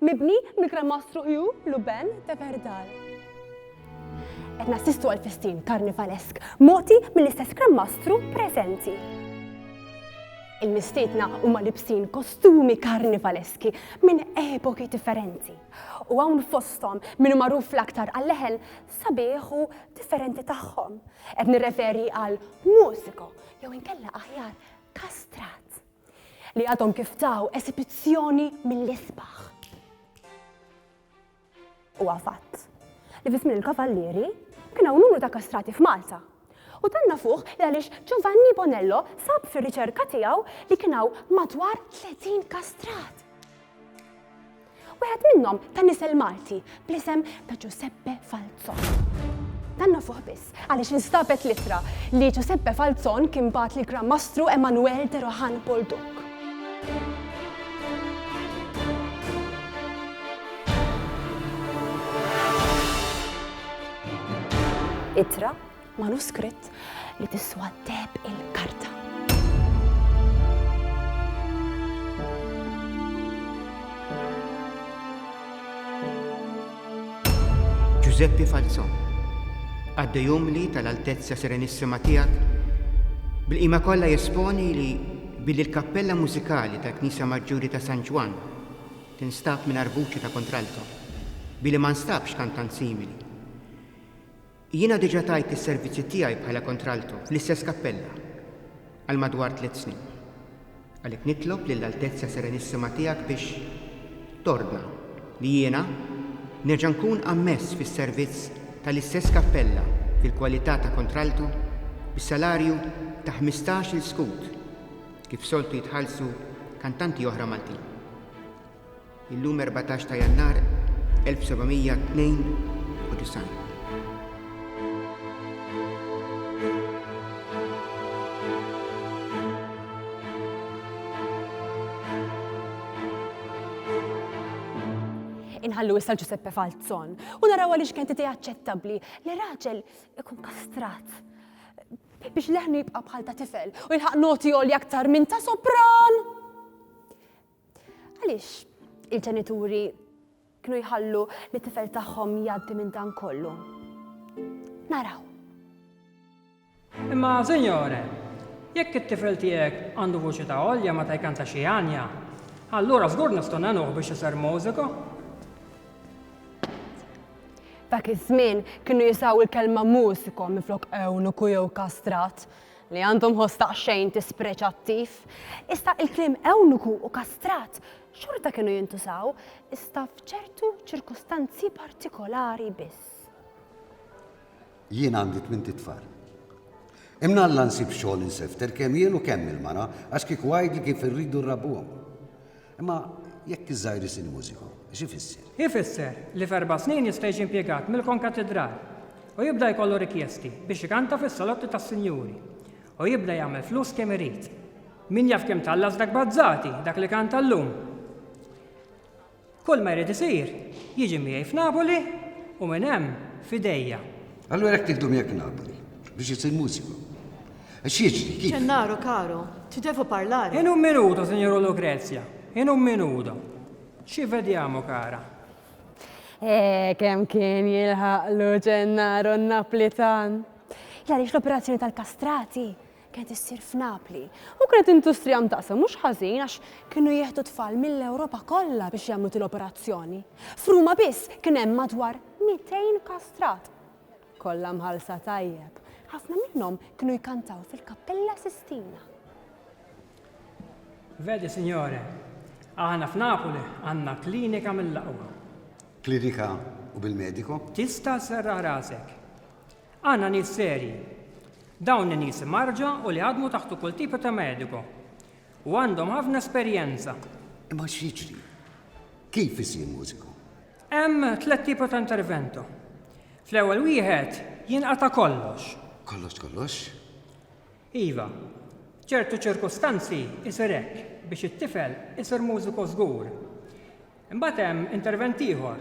Mibni mill-Gran Mastru Hugh Luben de Verdal. Qed nassistu għal festin karnivalesk mogħti mill-istess Gran Mastru preżenti. Il-mistiedna huma libsin kostumi karnivaleski minn epoki differenti. U hawn fosthom minn magħruf l-aktar għall-leħen sabiħu differenti tagħhom. Qed nirreferi għal mużiko jew inkella aħjar kastrat. li għadhom kif taw esibizzjoni mill-isbaħ. Huwa fatt li fi żmien il-Kavallieri kien hawn numru ta' kastrati f'Malta u dan nafuh li għaliex Giovanni Bonello sab fir-riċerka tiegħu li kien hawn madwar 30 kastrat. Wieħed minnhom ta' nisel Malti bl-isem ta' Ġuseppe Falzon. Dan nafuh biss għaliex instabet l-ittra li Ġuseppe Falzon kien bat li Gran Mastru Emanuel de Rohan Bolduk. Ittra Manuskritt li tiswa deb il-karta. Giuseppe Falzon, għadde jumli tal-Altezza Serenissima tiegħek, bil-qima kollha jesponi li billi l-kappella mużikali tal-Knisja Maġġuri ta' San Ġwan tinstab minn arbuċi ta' kontralto, billi ma nstabx kantant simili. Jiena diġà tajt is-servizzi tiegħi bħala kontralto fl-istess kappella għal madwar tliet snin. Għalhekk nitlob lill-Altezza Serenissima Tiegħek biex tordna li jiena nerġa' nkun ammess fis-servizz tal-istess kappella fil-kwalità ta' kontralto bi salarju ta' ħmistax-il skud kif soltu jitħallsu kantanti oħra Maltin. Illum 14 ta' Jannar 1792. inħallu issa Giuseppe Falzon u naraw għaliex kien titi aċċettabbli li raġel ikun kastrat biex leħnu jibqa' bħal ta' tifel u jilħaq noti għolja aktar minn ta' sopran. Għaliex il-ġenituri kienu jħallu li tifel tagħhom jgħaddi minn dan kollu. Naraw. Imma, Sinjore, jekk it-tifel tiegħek għandu vuċi ta' olja meta jkanta xi għanja, allura żgur nistgħu nagħnuh biex isir mużiku. Dak iż-żmien kienu jisaw il-kelma mużiku minflok ewnuku jew kastrat. li għandhom ħoss daqsxejn dispreċattiv, iżda il-kliem ewnuku u kastrat xorta kienu jintużaw, iżda f'ċertu ċirkustanzi partikolari biss. Jien għandi tmint itfal. Imnalla nsib xogħol insefter kemm jien u kemm il-mara għax kieku għidli kif irridu rrabbuhom. Imma jekk iż-żgħir isir mużiku, x'ifisser? Ifisser li f'erba' snin jista' jiġi impjegat mill-konkatidral u jibda jkollu rikjesti biex ikanta fis-salotti tas-sinjuri u jibda jagħmel flus kemm irid. Min jaf kemm tgħallas dak Bazzati, dak li kanta llum! Kull ma jrid isir, jiġi miegħi f'Napoli u minn hemm f'idejja. Allura jekk nieħdu miegħek Napoli biex isir mużiku, X'jiġri? Kif? Gennaro caro, ti devo parlare. In un minuto, signora Lucrezia, in un minuto. Ci vediamo, cara. Eh, kemm kien jilħaqlu Gennaro n-Naplitan! Għaliex l-operazzjoni tal-kastrati kienet issir f'Napli. U kienet industrija mtaqsa mhux ħażin għax kienu jieħdu tfal mill-Ewropa kollha biex jagħmlu til-operazzjoni. F'Ruma biss kien hemm madwar 200 kastrat. Kollha mħallsa tajjeb. Ħafna minnhom kienu jkantaw fil-Kappella Sistina. Vedi, Sinjore, aħna f'Napoli għandna klinika mill-aqwa. Klinika u bil-medico? Tista' sserraħ rasek. Għandna nies serji. Dawn in-nies imgħarrġa u li ħadmu taħtu kull tipu ta' medico. U għandhom ħafna esperjenza. Imma x'jiġri? Kif isir mużiku? Hemm tliet tipa ta' intervento. Fl-ewwel wieħed jinqata' kollox. Kollox kollox? Iva. F'ċertu ċirkustanzi isir hekk biex it-tifel isir mużiku żgur. Imbagħad hemm intervent ieħor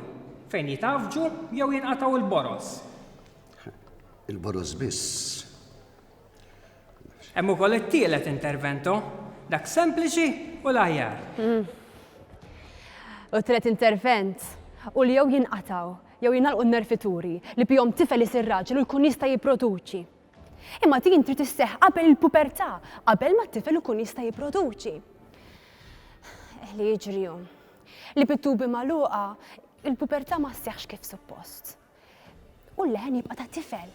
fejn jitgħaffġu jew jinqatgħu l-boroż. Il-boroż biss? Hemm ukoll it-tielet intervento, dak sempliċi u l-aħjar. U t-tielet intervent hu li jew jinqatgħu jew jingħalqu n-nerfituri li bihom tifel isir raġel u jkun jista' jipproduċi. Imma din trid isseħħ qabel il-pubertà, qabel ma t-tifel ikun jista' jipproduċi. Eh, li jiġri hu li bit-tubi magħluqa il-pubertà ma sseħħx kif suppost. u l-leħen jibqa' ta' tifel.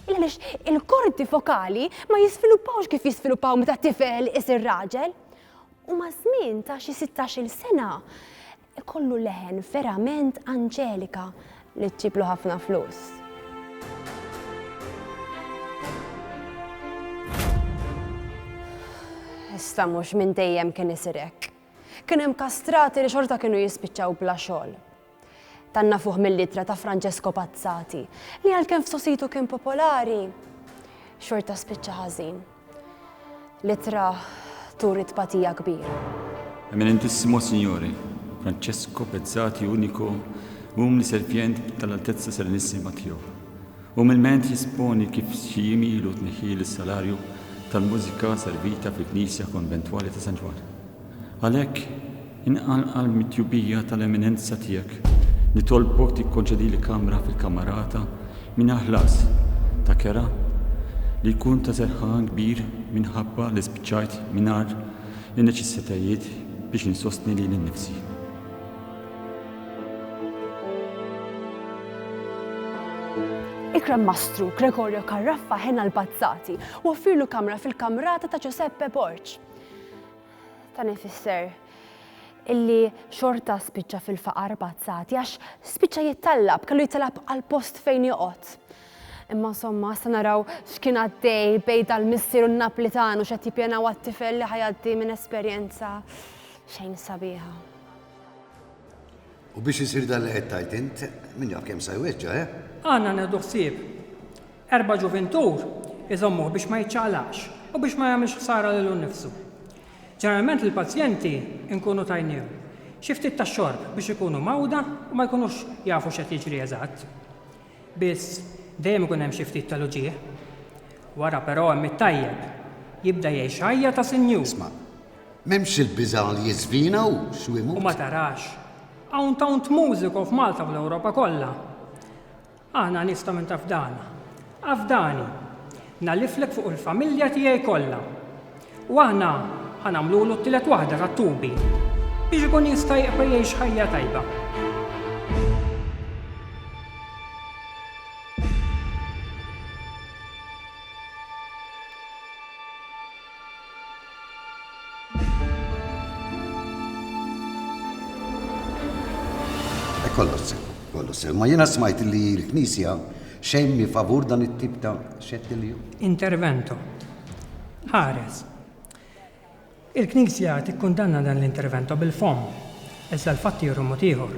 Għaliex il-kordi fokali ma jisviluppawx kif jisviluppaw meta tifel isir raġel. U ma' żmien ta' xi 16-il sena kollu leħen verament anġelika li ġiblu ħafna flus. Issa mhux minn dejjem kien isir hekk. Kien hemm kastrati li xorta kienu jispiċċaw bla xogħol. Dan nafuh mill-ittra ta' Francesco Pazzati, li għalkemm f'sositu kien popolari, xorta spiċċa ħażin. L-ittra turi tpatija kbira. Eminentissimo Signore, Francesco Pezzati Unico um li Serpjent tal-Altezza Serenissima Tiegħu, umilment jesponi kif xi jiem ilu tneħħieli s-salarju tal-mużika servita fil-Knisja Konventwali ta' San Ġwann. Għalhekk, inqanqal mit-tjubija tal-Eminenza Tiegħek, nitolbok tikkonċedili kamra fil-Camerata mingħajr ħlas ta' kera li jkun ta' serħan kbir minħabba li spiċċajt mingħajr in-neċessitajiet biex insostni lili nnifsi. Ikrem Mastru Gregorio Carraffa Hena l-Bazzati u offirlu kamra fil-Kamrata ta' Giuseppe Borg. Dan ifisser illi xorta spiċċa fil-faqar pazzati għax spiċċa jittallab, kellu jittallab għal post fejn joqgħod. Imma insomma, sa naraw x'kien għaddej bej dal-missier u n-Naplitan u x'qed jippjanaw għat-tifel li ħajaddi minn esperjenza xejn sabiħa. U biex isir dan li qed tgħid int, min jaf kemm sa jweġġa', eh? Għandna nieħdu ħsieb. Erba' ġuvintur iżommuh biex ma jiċċaqlaqx u biex ma jagħmilx ħsara lilu nnifsu. Ġeneralment lill-pazjenti nkunu tajnihom xi ftit tax-xorb biex ikunu mgħawda u ma jkunux jafu x'qed jiġri eżatt. Biss, dejjem ikun hemm xi ftit tal-uġigħ. Wara, però, hemm it-tajjeb. Jibda jgħix ħajja ta' sinjur. Isma'. M'hemmx il-biża' li jiżvina hu x'hu jmut. U ma tarax. Hawn tawnt mużiku f'Malta u fl-Ewropa kollha. Aħna nies ta' minn taf dana. Afdani. Ngħalliflek fuq il-familja tiegħi kollha. U aħna ħa nagħmlulu t-tielet waħda tat-tubi biex ikun jista' jieqfa' jgħix ħajja tajba. Kollox sew, kollox sew. Ma jiena smajt li l-Knisja xejn mi favur dan it-tip ta' xettilju. Intervento. Ħares. Il-Knisja tikkundanna dan l-intervento bil-fomm, iżda l-fatti juru mod ieħor.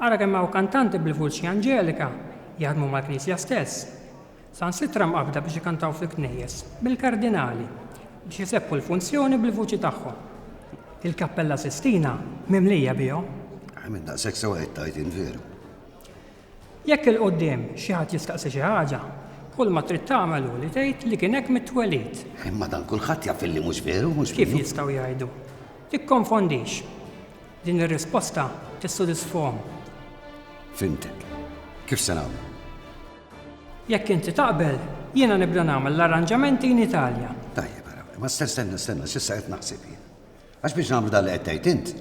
Ara kemm hawn kantanti bil-vuċi anġelika jaħdmu mal-Knisja stess. sansitra mqabbda biex ikantaw fil-knejjes mill-kardinali biex isebbħu l-funzjoni bil-vuċi tagħhom. Il-Kappella Sistina mimlija bihom. Minn daqshekk sewwa qed tgħid int veru. Jekk 'il quddiem xi ħadd jistaqsi xi ħaġa, kulma trid tagħmel hu li tgħid li kien hekk mit-twelid. Imma dan kulħadd jaf illi mhux veru, mhux minnu. Kif jistgħu jgħidu? Tikkonfondix. Din ir-risposta tissodisfahom. Fhimtek. Kif se nagħmlu? Jekk inti taqbel, jiena nibda nagħmel l-arranġamenti in Italja. Tajjeb, ara, imma sten- stenna, stenna, s'issa qed naħseb jien. Għax biex nagħmlu dan li qed tgħid int,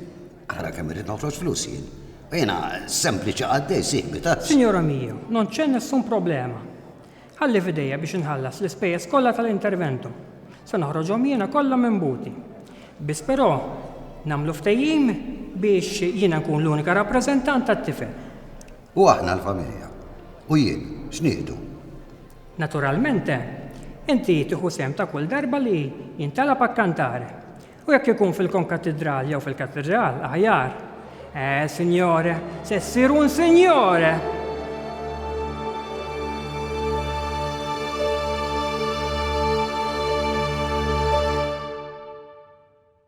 ara kemm irrid noħroġ flus jien. U jiena sempliċi qaddej sieħbi tazz. Sinjora Mio, non c'è nessun problema. Ħalli f'idejja biex inħallas l-ispejjeż kollha tal-intervento. Se noħroġhom jiena kollha minn buti. Biss però, nagħmlu ftehim biex jiena nkun l-unika rappreżentant tat-tifel. U aħna l-familja? U jien, x'nieħdu? Naturalment, inti tieħu sehem ta' kull darba li jintalab akkantar. U jekk ikun fil-konkatidral jew fil-katidral, aħjar. Eh, sinjore, se ssir un sinjore!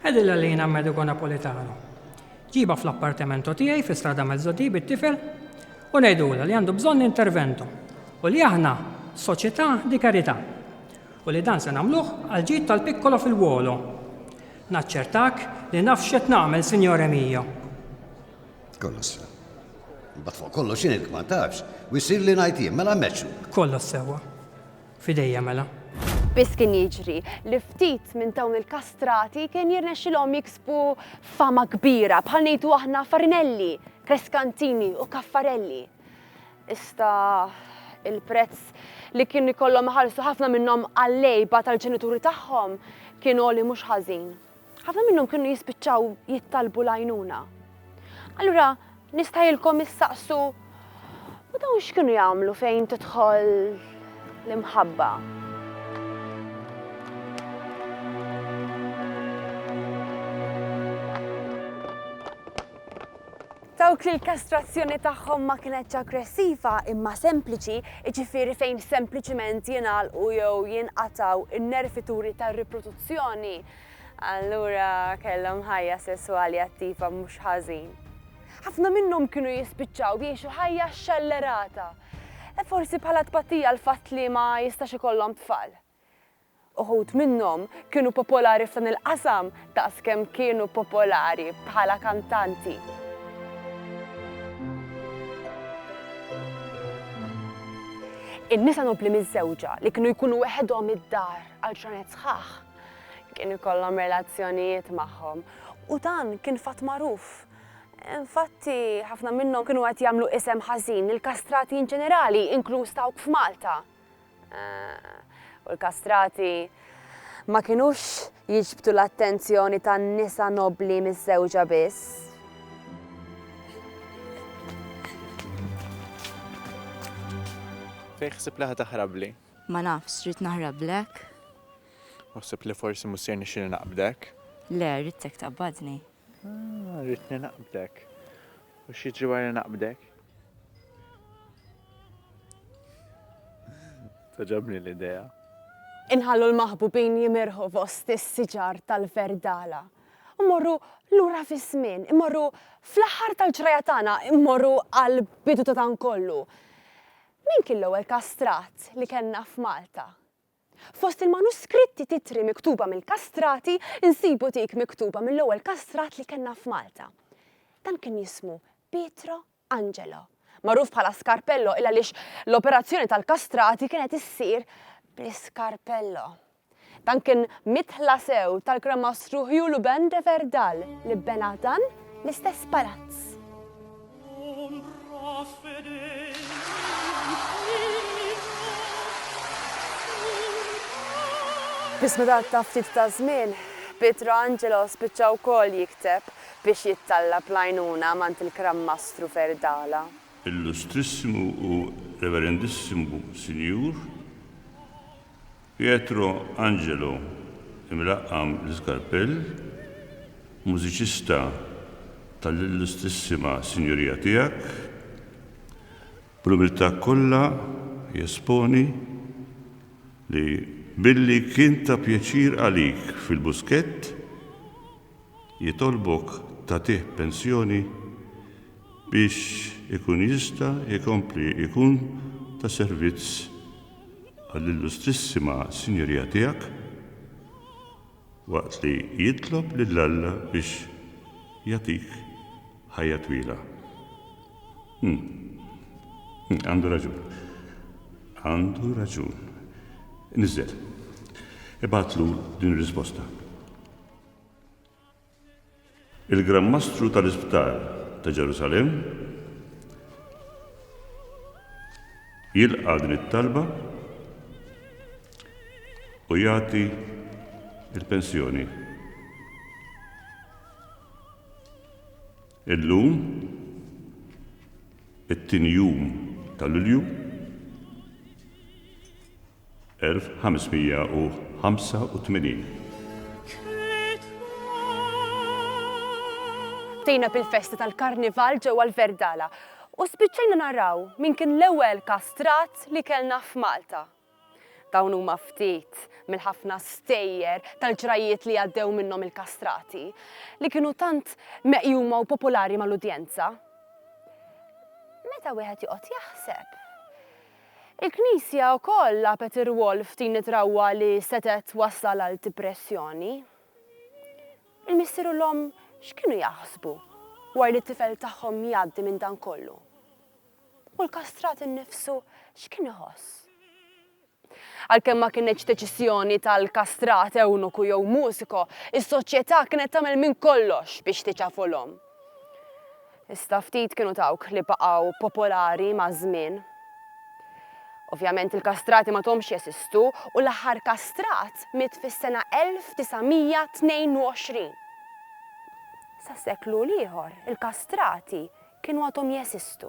Għidilha li jien Amerigo Napolitano. Ġibha fl-appartamento tiegħi fi Strada Mezzodì bit-tifel u ngħidulha li għandu bżonn intervento u li aħna Società di Carità u li dan se nagħmluh għall-ġid tal-piccolo figliuolo. Naċċertak li naf x'qed nagħmel, signore mio. Kollox sew. Imbagħad fuq kollox jien hekk ma ntafx u jsir li ngħid jien, mela mexxu. Kollox sewwa. F'idejja mela. Biss kien jiġri li ftit minn dawn il-kastrati kien jirnexxilhom jiksbu fama kbira bħal ngħidu aħna Farinelli, Kreskantini u Kaffarelli. Iżda il-prezz li kien ikollhom iħallsu ħafna minnhom għall-għejba tal-ġenituri tagħhom kien għoli mhux ħażin. Ħafna minnhom kienu jispiċċaw jittalbu l-għajnuna. Allura nistgħilkom issaqsu u dawn x'kienu jagħmlu fejn tidħol l-imħabba? Dawk li l-kastrazzjoni tagħhom ma kinetx aggressiva imma sempliċi, jiġifieri fejn sempliċiment jingħalqu jew jinqatgħu n-nervituri tar-riproduzzjoni, allura kellhom ħajja sesswali attiva mhux ħażin. Ħafna minnhom kienu jispiċċaw jgħixu ħajja xxellerata, forsi bħala tbatija għall-fatt li ma jistax ikollhom tfal. Uħud minnhom kienu popolari f'dan il-qasam daqs kemm kienu popolari bħala kantanti. In-nisa nobbli miżżewġa li kienu jkunu weħedhom id-dar għal ġranet sħaħ kien ikollhom relazzjonijiet magħhom u dan kien fatt magħruf. Infatti, ħafna minnhom kienu qed jagħmlu isem ħażin lill-kastrati inġenerali, inkluż dawk f'Malta. U l-kastrati ma kinux jiġbdu l-attenzjoni tan-nisa nobbli miżżewġa biss. Fejn ħsibt li ħa taħrabli? Ma nafx, rrid naħrablek. U ħsibt li forsi mhux ser nixxielni naqbdek? Le, ridtek taqbadni. Ah, rritni naqbdek. U xieġi wara naqbdek? Taġabni l-idea. Inħallu l-maħbubin jimirħu fost is-siġar tal-verdala. Immorru lura fi żmien, immorru fl-aħħar tal-ġrajja tagħna, immorru għal bidu ta' dan kollu. Min kien l-ewwel kastrat li kellna f'Malta? Fost il-manuskritti titri miktuba mill-kastrati nsibu dik miktuba mill-ewwel kastrat li kellna f'Malta. Dan kien jismu Pietro Angelo, magħruf bħala Scarpello il għaliex l-operazzjoni tal-kastrati kienet issir bl-iskarpello. Dan kien midħla sew tal-Gran Mastru Hugh Luben de Verdal li bena dan l-istess palazz. Fis-smidat ta' ftit ta' żmien, Pietro Angelo spiċċa wkoll jikteb biex jittallab l-għajnuna m'għand il-Gran Mastru Ferdala. Illustrissimu u Reverendissimu Sinjur, Pietro Angelo, imlaqqam l-iskarpell, mużiċista tal-Illustrissima Sinjurija Tiegħek, bl-umiltà kollha jesponi li billi kien ta' pjaċir għalik fil-buskett, jitolbok tagħtih pensjoni biex ikun jista' jkompli jkun ta' servizz għall-Illustrissima Sinjurija tiegħek, waqt li jitlob lil Alla biex jagħtik ħajja twila. Hm. Hm, għandu raġun. Għandu raġun. Niżżel. Ibgħatlu din ir-risposta. Il-Gran Mastru tal-Isptar ta' Ġerusalemm jilqa' din it-talba u jagħti l-pensjoni. Illum, it-tieni jum ta' Lulju, 1585. Bdejna bil-festi tal-Karnival ġewwa l-Verdala u spiċċajna naraw min kien l-ewwel kastrat li kellna f'Malta. Dawn huma ftit mill-ħafna stejjer tal-ġrajjiet li għaddew minnhom il-kastrati li kienu tant meqjuma u popolari mal-udjenza. Meta wieħed joqgħod jaħseb. Il-Knisja wkoll lagħbet ir-rwol f'din it-trawwa li setgħet twassal għal dipressjoni. Il-missier u l-omm x'kienu jaħsbu wara li t-tifel tagħhom jgħaddi minn dan kollu? U l-kastrat innifsu x'kien iħoss? Għalkemm ma kinetx deċiżjoni tal-kastrat, ewnuku jew mużiko, is-soċjetà kienet tagħmel minn kollox biex tiċafu l-omm. Iżda ftit kienu dawk li baqgħu popolari maż-żmien. Ovvjament il-kastrati ma thomx jesistu u l-aħħar kastrat miet fis-sena 1922. Sa seklu l-ieħor il-kastrati kienu għadhom jesistu.